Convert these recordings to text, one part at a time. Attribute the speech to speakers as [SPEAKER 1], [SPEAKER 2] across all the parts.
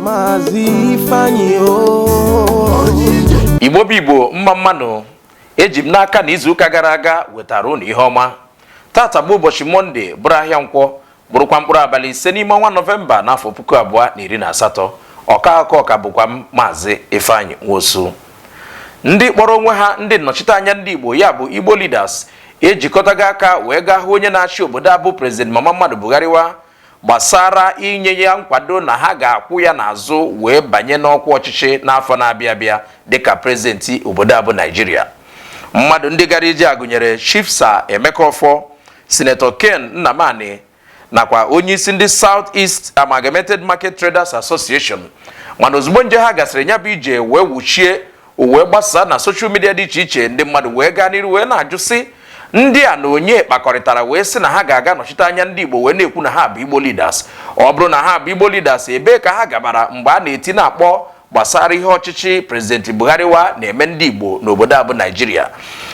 [SPEAKER 1] Maazị Ifeanyi
[SPEAKER 2] o igbo bụ igbo mma mma nụ eji m n'aka na izuụka gara aga wetara unu ihe ọma taata bụ ụbọchị mọnde bụrụ ahịa nkwọ bụrụkwa mkpụrụ abalị ise n'ime ọnwa nọvemba n'afọ puku abụọ na iri na asatọ ọka akọ ọ ka bụkwa m maazị Ifeanyi Nwosu ndị kpọrọ onwe ha ndị nnọchiteanya ndị igbo ya bụ igbo leaders ejikọtago aka wee gaa hụ onye na-achị obodo a bụ prezident mama mmadụ bugharịwa gbasara inye ya nkwado na ha ga-akwụ ya n'azụ wee banye n'ọkwa ọchịchị n'afọ na-abịa abịa dịka prezidenti obodo a bụ Naijiria mmadụ ndị gara ije a gụnyere Chief Sir Emeka Ọfọ Sinetọ Ken Nnamani nakwa onyeisi ndị South East Amalgamated Market Traders Association mana ozugbo nje ha gasịrị nya bụ ije wee wuchie o wee gbasaa na soshal midia dị iche iche ndị mmadụ wee gaa n'iru wee na-ajụ sị ndị a na onye kpakọrịtara wee sị na ha ga-aga nọchite anya ndị Igbo wee na-ekwu na ha bụ Igbo leaders ọ bụrụ na ha bụ Igbo leaders ebee ka ha gabara mgbe a na-eti na-akpọ gbasara ihe ọchịchị prezidenti Bugharịwa na-eme ndị Igbo n'obodo a bụ Naijiria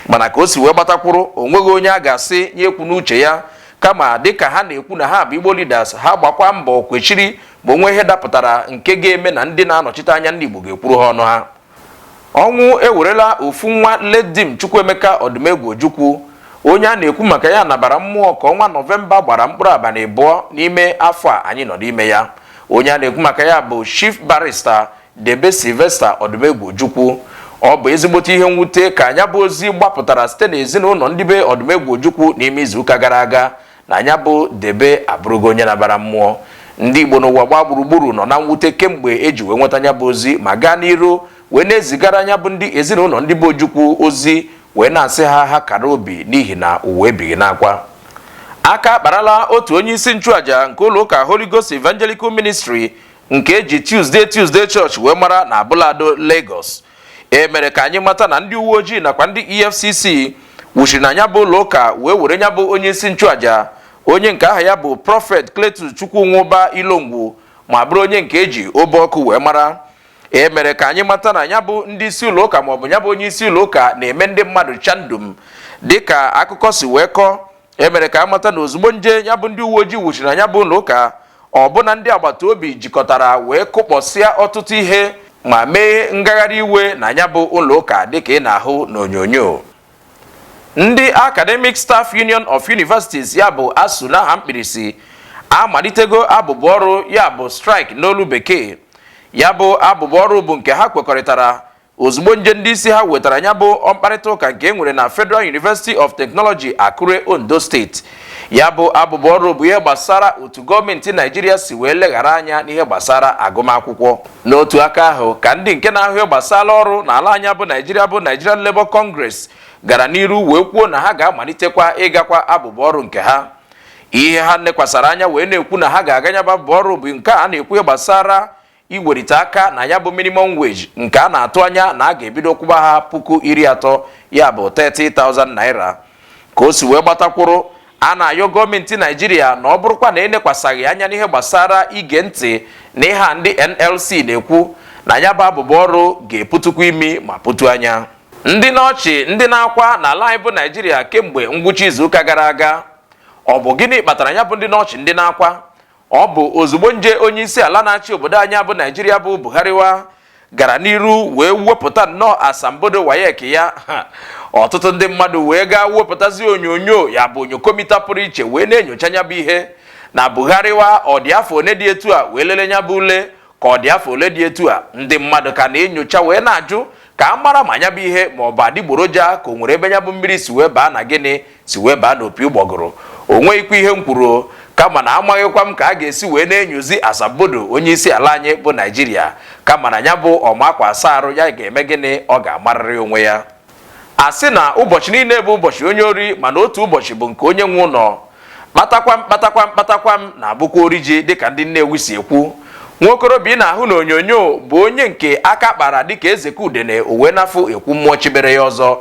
[SPEAKER 2] mana ka o si wee gbatakwuru o nweghị onye a ga-asị nya ekwuna uche ya kama dịka ha na-ekwu na ha bụ Igbo leaders ha gbakwa mbọ kwechiri ma o nwee ihe dapụtara nke ga-eme na ndị na-anọchite anya ndị Igbo ga-ekwuru ha ọnụ ha ọnwụ ewerela ofu nwa late Dim Chukwuemeka Odumegwu Ojukwu onye a na-ekwu maka ya nabara mmụọ ka ọnwa nọvemba gbara mkpụrụ abalị abụọ n'ime afọ a anyị nọ n'ime ya onye a na-ekwu maka ya bụ chief barista Debe Sylvester Odumegwu Ojukwu ọ bụ ezigbote ihe mwute ka nya bụ ozi gbapụtara site n'ezinụlọ ndị be Odumegwu Ojukwu n'ime izuụka gara aga na nya bụ Debe abụrụgo onye nabara mmụọ ndị Igbo n'ụwa gbaa gburugburu nọ na mwute kemgbe eji wee nweta nya bụ ozi ma gaa n'iru wee na-ezigara nya bụ ndị ezinụlọ ndị be Ojukwu ozi wee na-asị ha ha kara obi n'ihi na ụwa ebighị n'akwa aka akparala otu onye isi nchụaja nke ụlọ ụka Holy Ghost Evangelical Ministry nke eji Tuesday Tuesday Church wee mara na Abule Ado Lagos e mere ka anyị mata na ndị uwe ojii nakwa ndị EFCC wuchiri na nya bụ ụlọ ụka wee were nya bụ onye isi nchụaja onye nke aha ya bụ prọfet Cletus Chukwunwuba Ilongwu ma bụrụ onye nke eji obe ọkụ wee mara e mere ka anyị mata na nya bụ ndị isi ụlọ ụka maọbụ nya bụ onye isi ụlọ ụka na-eme ndị mmadụ chandum dịka akụkọ si wee kọọ e mere ka a mata na ozugbo nje ya bụ ndị uwe ojii wuchiri na nya bụ ụlọ ụka ọbụna ndị agbata obi jikọtara wee kụkpọsịa ọtụtụ ihe ma mee ngagharị iwe na nya bụ ụlọ ụka dịka ị na-ahụ n'onyonyo ndị Academic Staff Union of Universities ya bụ ASUU n'aha mkpirisi amalitego abụbụ ọrụ ya bụ strike n'olu bekee ya bụ abụbụ ọrụ bụ nke ha kwekọrịtara ozugbo nje ndị isi ha wetara ya bụ mkparịta ụka nke e nwere na Federal University of Technology Akure Ondo steeti ya bụ abụbụ ọrụ bụ ihe gbasara otu gọọmenti naijiria si wee leghara anya n'ihe gbasara agụmakwụkwọ n'otu aka ahụ ka ndị nke na-ahụ ihe gbasara ọrụ n'ala anyị bụ naijiria bụ Nigerian Labour Congress gara n'iru wee kwuo na ha ga-amalitekwa ịgakwa abụbụ ọrụ nke ha ihe ha nekwasara anya wee na-ekwu na ha ga-aga nya bụ abụbụ ọrụ bụ nke a na-ekwu ihe gbasara iwerite aka na ya bụ minimum wage nke a na-atụ anya na a ga-ebido kwụba ha puku iri atọ ya bụ 30,000 naira ka o si wee gbata kwụrụ a na-ayọ gọọmenti naijiria na ọ bụrụkwa na enekwasaghị anya n'ihe gbasara ige ntị na ihe a ndị nlc na-ekwu na ya bụ abụbụ ọrụ ga-eputukwa imi ma putu anya ndị n'ọchị ndị n'akwa n'ala anyị bụ naijiria kemgbe ngwụcha izuụka gara aga ọ bụ gịnị kpatara ya bụ ndị n'ọchị ndị n'akwa ọ bụ ozugbo nje onye isi ala na-achị obodo anyị bụ naijiria bụ Buhari wa gara n'iru wee wepụta nnọọ asambodo WAEC ya ọtụtụ ndị mmadụ wee gaa wepụtazi onyonyo ya bụ onyokomita pụrụ iche wee na-enyocha nya bụ ihe na Buhari wa ọ dị afọ one dị etu a wee lele nya bụ ule ka ọ dị afọ ole dị etu a ndị mmadụ ka na-enyocha wee na-ajụ ka a mara ma nya bụ ihe ma ọ bụ adịgboroja ka o nwere ebe nya bụ mmiri si wee baa na gịnị si wee baa n'opi ụgbọgụrụ o nweghịkwa ihe m kwuru kama na amaghịkwa m ka a ga-esi wee na-enyozi asambodo onye isi ala anyị bụ naijiria kama na ya bụ ọ ma akwa asa arụ ya ga-eme gịnị ọ ga-amarịrị onwe ya a sị na ụbọchị niile bụ ụbọchị onye ori mana otu ụbọchị bụ nke onye nwe ụlọ kpatakwam kpatakwam kpatakwam na-abụkwa ori ji dịka ndị Nnewi si ekwu nwaokorobịa ị na-ahụ n'onyonyo bụ onye nke aka kpara dịka ezeke udene uwe n'afọ ekwu mmụọ chibere ya ọzọ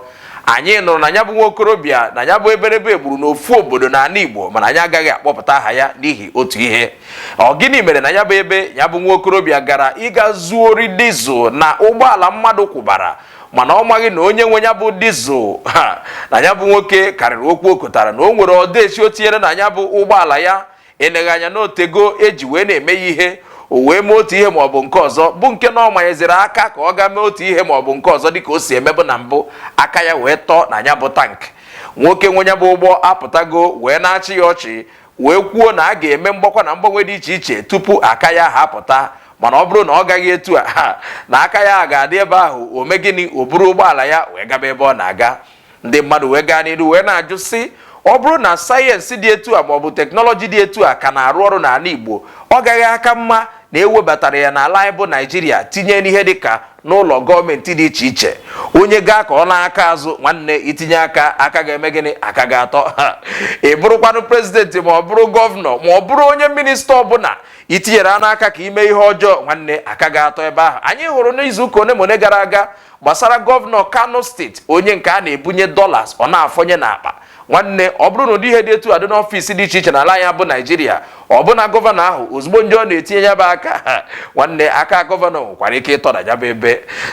[SPEAKER 2] anyị nụrụ na ya bụ nwaokorobịa na ya bụ eberebe gburu n'ofu obodo n'ala Igbo mana anyị agaghị akpọpụta aha ya n'ihi otu ihe ọ gịnị mere na ya bụ ebe ya bụ nwaokorobịa gara ịga zuo ori diesel na ụgbọala mmadụ kwụbara mana ọ maghị na onye nwe ya bụ diesel na ya bụ nwoke karịrị okwu o kotara na o nwere ọdaechi o tinyere na ya bụ ụgbọala ya eleghị anya na o tego e ji wee na-eme ya ihe o wee mee otu ihe ma ọ bụ nke ọzọ bụ nke na ọ manyeziri aka ka ọ gaa mee otu ihe ma ọ bụ nke ọzọ dịka o si emebu na mbụ aka ya wee tọọ na ya bụ tank nwoke nwe ya bụ ụgbọ apụtago wee na-achị ya ọchị wee kwuo na a ga-eme mgbakwa na mgbanwe dị iche iche tupu aka ya ha apụta mana ọ bụrụ na ọ gaghị etu a na aka ya ga-adị ebe ahụ o mee gịnị o buru ụgbọala ya wee gaba ebe ọ na-aga ndị mmadụ wee gaa n'iru wee na-ajụ sị ọ bụrụ na sayensị dị etu a maọbụ teknọlọji dị etu a ka na-arụ ọrụ n'ala Igbo ọ gaghị aka mma na ewebatara ya n'ala anyị bụ naijiria tinye n'ihe dịka n'ụlọ gọọmenti dị iche iche onye gaa ka ọ naa aka azụ nwanne i tinye aka aka ga-eme gịnị aka ga-atọ ị bụrụkwanụ prezidenti ma ọ bụrụ gọvanọ ma ọ bụrụ onye minista ọbụla i tinyere anụ aka ka i mee ihe ọjọọ nwanne aka ga-atọ ebe ahụ anyị hụrụ n'izuụka one ma one gara aga gbasara gọvanọ kano steeti onye nke a na-ebunye dollars ọ na-afọnye n'akpa nwanne ọ bụrụ na ụdị ihe dị etu a dị n'ọfịs dị iche iche n'ala anyị bụ naijiria ọbụna gọvanọ ahụ ozugbo ndị ọ na-etinye ya bụ aka nwanne aka gọvanọ nwekwara ike ịtọda ya bụ ebe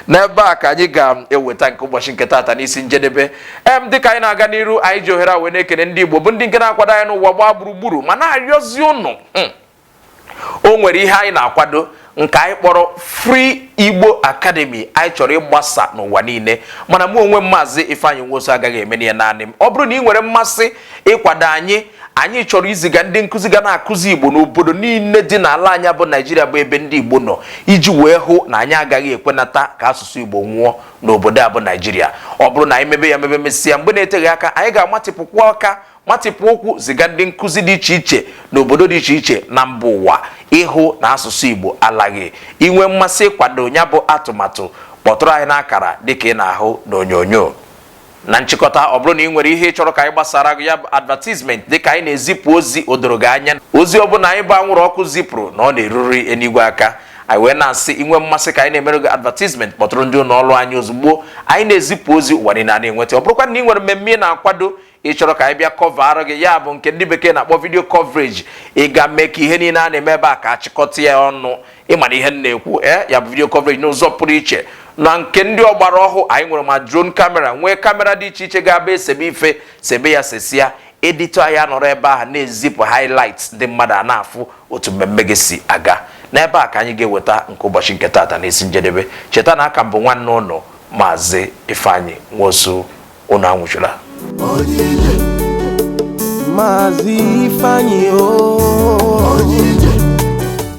[SPEAKER 2] n'ebe a ka anyị ga-eweta nke ụbọchị nke taata n'isi njedebe em dịka anyị na-aga n'iru anyị ji ohere a wee na-ekene ndị igbo bụ ndị nke na-akwado anyị n'ụwa gbaa gburugburu ma na-arịọzi ụnụ hmm. o nwere ihe anyị na-akwado nke anyị kpọrọ Free Igbo Academy anyị chọrọ ịgbasa n'ụwa niile mana mụ onwe m maazị Ifeanyi Nwosu agaghị eme ya naanị m ọ bụrụ na ị nwere mmasị ịkwado anyị anyị chọrọ iziga ndị nkụzi ga na-akụzi igbo n'obodo niile dị n'ala anyị bụ naijiria bụ ebe ndị igbo nọ iji wee hụ na anyị agaghị ekwenata ka asụsụ igbo nwụọ n'obodo a bụ naijiria ọ bụrụ na anyị mebe ya mebe mesịa mgbe na-eteghị aka anyị ga-amatịpụkwa aka matịpụ ụkwụ ziga ndị nkụzi dị iche iche n'obodo dị iche iche na mba ụwa ịhụ na asụsụ Igbo alaghị i nwee mmasị ịkwado ya bụ atụmatụ kpọtụrụ anyị n'akara dịka ị na-ahụ n'onyonyo na nchịkọta ọ bụrụ na ị nwere ihe ị chọrọ ka anyị gbasaara gị ya bụ advertisement dịka anyị na-ezipụ ozi o doro gị anya ozi ọbụla anyị bụ anwụrụ ọkụ zipụrụ na ọ na-eruri enigwe aka anyị wee na-asị i nwee mmasị ka anyị na-emere gị advertisement kpọtụrụ ndị ụlọ ọrụ anyị ozugbo anyị na-ezipụ ozi ụwa niile ana-enweta ọ bụrụkwa na ị nwere mmemme ị na-akwado ị chọrọ ka anyị bịa kọvaara gị ya bụ nke ndị bekee na-akpọ video coverage ị ga mee ka ihe niile a na-eme ebe a ka a chịkọta ya ọnụ ị mara ihe m na-ekwu e ya bụ video coverage n'ụzọ pụrụ iche na nke ndị ọgbara ọhụụ anyị nwere ma drone camera nwee camera dị iche iche ga-abụ e sebe ife sebe ya sesịa edito ya nọrọ ebe ahụ na-ezipụ highlights ndị mmadụ ana-afụ otu mmemme gị si aga n'ebe a ka anyị ga-eweta nke ụbọchị nke taata n'isi njedebe cheta na aka m bụ nwanne ụnụ maazị Ifeanyi Nwosu unu anwụchula Maazị
[SPEAKER 1] Ifeanyi o